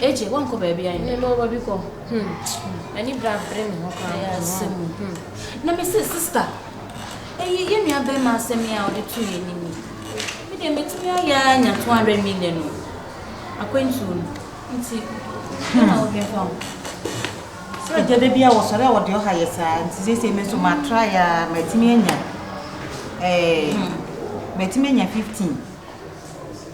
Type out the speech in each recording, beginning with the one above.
Agye, wɔnkɔ baabiara nnɛ. Mema ɔba bi kɔ. Hmm. M'ani bra bere me ho koraa. Ɛyɛ asɛm o. Hmm. Na me se, sista, ɛyi yɛ nua bɛrima asɛm yi a ɔde to yɛ anim yi. Me deɛ metumi ayɛ ara nya two hundred million o. Akwantuo no. Nti, hmm. na wodwen fa ho. Sɛ agya da bi a wɔsɔre a wɔde ɔha yɛ saa nti seesei me nso matra yɛ a matumi anya. Ɛɛ, hmm. matumi anya fifteen.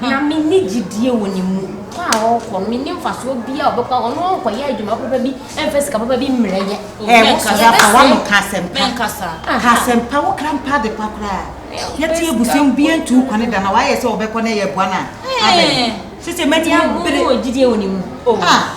Na menni gyedie wɔ ne mu. Kɔ a ɔrekɔ no, menni mfasoɔ biara a ɔbɛkɔ akɔ. Ɔno ɔnkɔyɛ adwuma papa bi mfa sika papa bi mmrɛ yɛn. Ɛɛ, wo so yɛbɛsrɛ wo. Ɛɛ, ka asɛm pa. Menka saa. Ka asɛm pa. Wo kra mpa adepa koraa. Yɛte abusua mu, obiara ntu wo kwane da, na wayɛ sɛ ɔbɛkɔ na yɛreboa no a, abɛn. Seesei m'ani abere. Ɛɛ, wowɔ gyedie wɔ ne mu? Oh. Ah!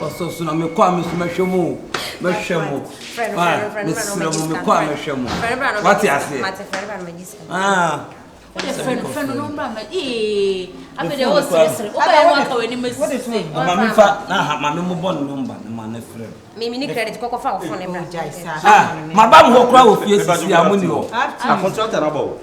Ɔsoso na mekɔ a me nso mɛhwɛ mu o. Mɛhwɛ mu. Ah, mesrɛ mu mekɔ a mɛhwɛ mu. Wate aseɛ? Ah. Wode fɛ no fɛ no no mbra ma ee abe de o sere sere o bɛyɛ wa ka wani ma sisi se o ma mi fa na ha ma mi mo bɔ ne number ne ma ne frɛ mi mi ni credit kɔkɔ fa o fone mbra ah ma ba mo hɔ kura wɔ fie sisi a mo ni hɔ a contract na bɔ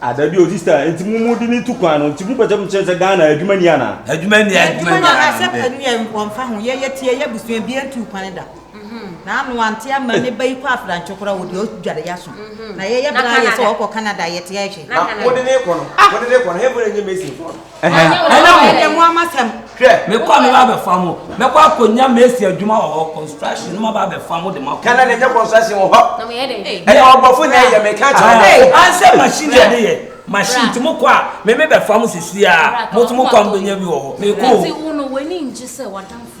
Ah dabi o sista nti mo mo di ne tu kwan no nti mo pɛkyɛ mo kyerɛ sɛ Ghana adwuma ni ana. Adwuma ni adwuma ni ana. Asɛ pɛ ni wɔn fa ho yɛ yɛ ti yɛ yɛ busua bi ntu kwan da. Na ano ante ama ne ba yi kɔ afrantwe kora wo di o dware ya so. Na yɛ yɛ bra yɛ sɛ ɔkɔ Canada yɛ ti yɛ hwe. Na wo de ne kɔ no wo de ne kɔ no hɛn fo na nye Mason fo no. Ɛhɛn, ɛne mo. Ɛne mo amasɛm. Hwɛ, mekɔ a meba abɛfa mo. Mɛkɔ akɔnya Macy adwuma wɔ hɔ, construction, na maba abɛfa mo de mo akɔ. Ghana na ɛnyɛ construction wɔ hɔ. Na moyɛ dɛn? Ɛyɛ ɔbɔfo na ɛyɛ, meka akyerɛ mo. Ei, ansɛ machine na ɛde yɛ. Machine, nti mokɔ a, me mebɛfa mo sesie ara. Mo nso mokɔ a mobɛnya bi wɔ hɔ. Mekɔ o. Enti wo no, w'ani ngye sɛ w'adamfo.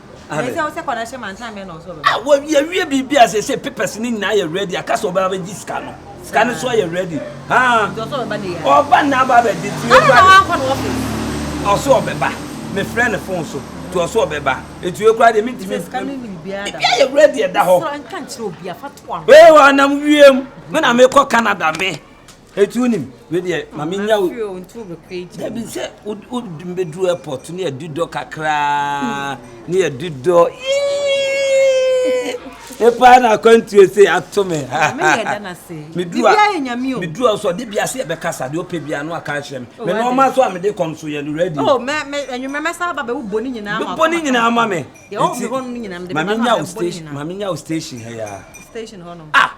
Amen. Ɛsɛ ɔsɛ kɔnɛhyɛ ma nsa mɛ na ɔsɛ ɔbɛma. Ah, wɔ yɛ wie biribi a sɛ sɛ papers ne nyinaa yɛ ready aka sɛ ɔbɛba bɛgye sika no. Sika no so ayɛ ready. Ah. Nti ɔsɛ ɔbɛba ne yɛ. Ɔba na aba bɛgye ti. Ɛna na wankɔ no ɔfɛ. Ɔsɛ ɔbɛba. Me frɛ ne phone so. Ti ɔsɛ ɔbɛba. Etu ekura de mi ti mi. Sika no ni biribi ada. Biribi ayɛ ready ɛda hɔ. Sɛ nka nkyerɛ obi afa to ano. Ee, ɔnam wiem. Me na mekɔ Canada me. Eti wonim wei deɛ ma me nya wo dabi sɛ wodi mbɛduru airport ne yɛdi dɔ kakraa ne yɛdi dɔ epaa na akwantuo se ato me meduru a so ɔde bia se yɛbɛkasa deɛ ɔpɛ bia no aka akyerɛ me me nɔɔma so a mede kɔm so yɛ no ready oh, mebɔ ne nyinaa ma me ma menya wo station ha ya ah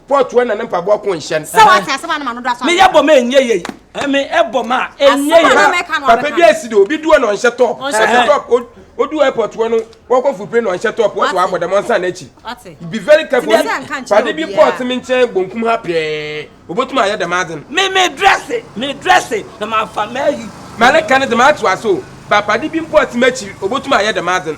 Paul tua na ne mpaboa ko nhyɛn. Sɛ wate asɛm a ne ma no do asɔ. Me yɛ bɔ ma ɛnyɛ yei. Me ɛbɔ ma ɛnyɛ yei. Papa bi asi de obi duo na ɔnhyɛ top. Ɔnhyɛ top. Odu airport wɔ no wɔkɔ fupire na ɔnhyɛ top wɔto abɔ dɛm ɔnsan n'akyi. Be very careful. Pade bi Paul te me nkyɛn bonkum ha pɛɛ. Obotum ayɛ dɛm adze no. Me me dresse me dresse na ma fa ma ayi. Mɛleka ne dze ma ato ase o. Ba pade bi Paul te m'akyiri obotum ayɛ dɛm adze no.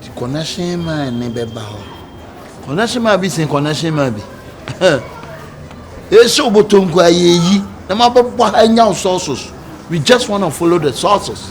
Nti connection man ne bɛba hɔ. Connection man bi sen connection man bi. Yɛhyɛ wobɔtɔ nko a yɛyi na mabɛbɔ ha anya wo sources. We just wanna follow the sources.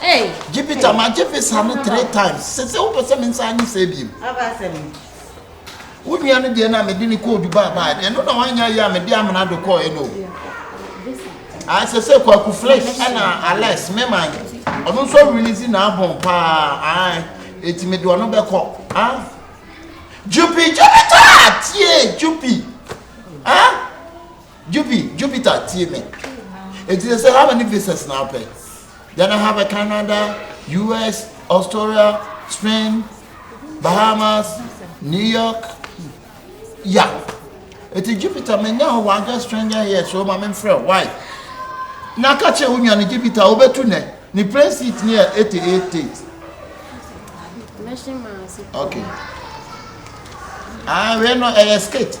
Hey, gye visa hey. magye visa no three times sɛ sɛ wopɛ sɛ me nsa anye sɛ biem wo nua no deɛ no a mede ne kɔɔ dubai baa ɛno na wanyɛ yɛ a mede amena do kɔɔɛ no ayɛ sɛ sɛ kwaku flesh ɛna alex mema ɔno nso release naabɔn paa ae ɛti mede ɔno bɛkɔ jupi gyɛbɛtaa tie jupi ah Juvi, Jupiter tie me. Eti sɛ how many visas na apɛ? Then I have a Canada, US, Australia, Spain, Bahamas, New York. Ya. Eti Jupiter menya hɔ one girl stranger here so ma me mfrɛ why? Na ka kyerɛ wo nua no Jupiter wobetu nɛ ne plane seat ne yɛ 88. Okay. Ah, wei no ɛyɛ skate.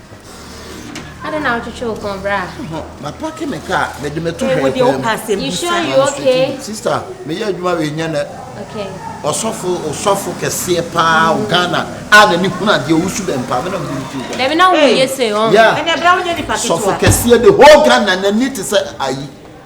Adɛn na wotwetwe wo kɔn bra? Hɔ, mapake me kaa, mede mɛto Hey, wo hwɛɛ deɛ kwan wopɛ mu. asɛm You bi sure saa. you okay? Sista, meyɛ adwuma wei nyɛ nɛ. Okay. Ɔsɔfo, ɔsɔfo kɛseɛ paa wɔ Ghana a n'ani hunu adeɛ, ɔwɔ su bɛn paa, me na mede no too dwa. Dabi na wo Hey. yɛ sei ɔn. Yeah. Ɛnɛ bra wonyɛ nipa Sɔfo ketewa. kɛseɛ the whole Ghana n'ani te sɛ ayi.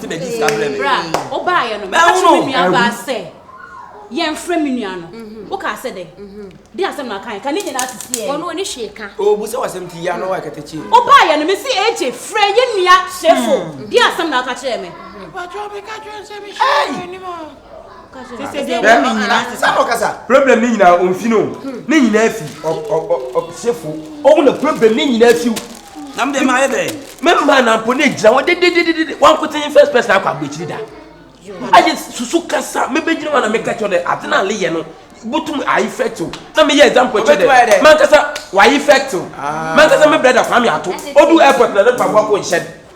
Ti bɛ di sika brɛ mi. Bra o ba yɛ no mɛ ka kyerɛ mi nua ba sɛ yɛn frɛ mi nua no o ka sɛ dɛ di asɛm na kan ka ne nyinaa sisi yɛ. Wɔn wɔn si ka. O bu sɛ wasɛm ti ya na wa kɛtɛ kyi. O ba yɛ no mɛ si eje frɛ yɛ nua sefo di asɛm na ɔka kyerɛ mɛ. Mpatsɔ mi ka kyerɛ nsɛ mi si yɛ wɔ anim a. problem ne nyinaa ɔmfi no ne nyinaa fi ɔsefo ɔwo na problem ne nyinaa fi nam de ma ayɛ dɛ mɛma nampo ne gyina hɔ dedededede wankoten first person akɔ aburokyiri da ayɛ susu kasa mebɛgyina hɔ na meka kyerɛ dɛ ade no ale yɛ no botum ayi fɛtew na meyɛ example kyerɛ dɛ mankasa wayi fɛtew mankasa me brɛda kwame ato ɔdu airport na ne mpaboa kɔ nhyɛ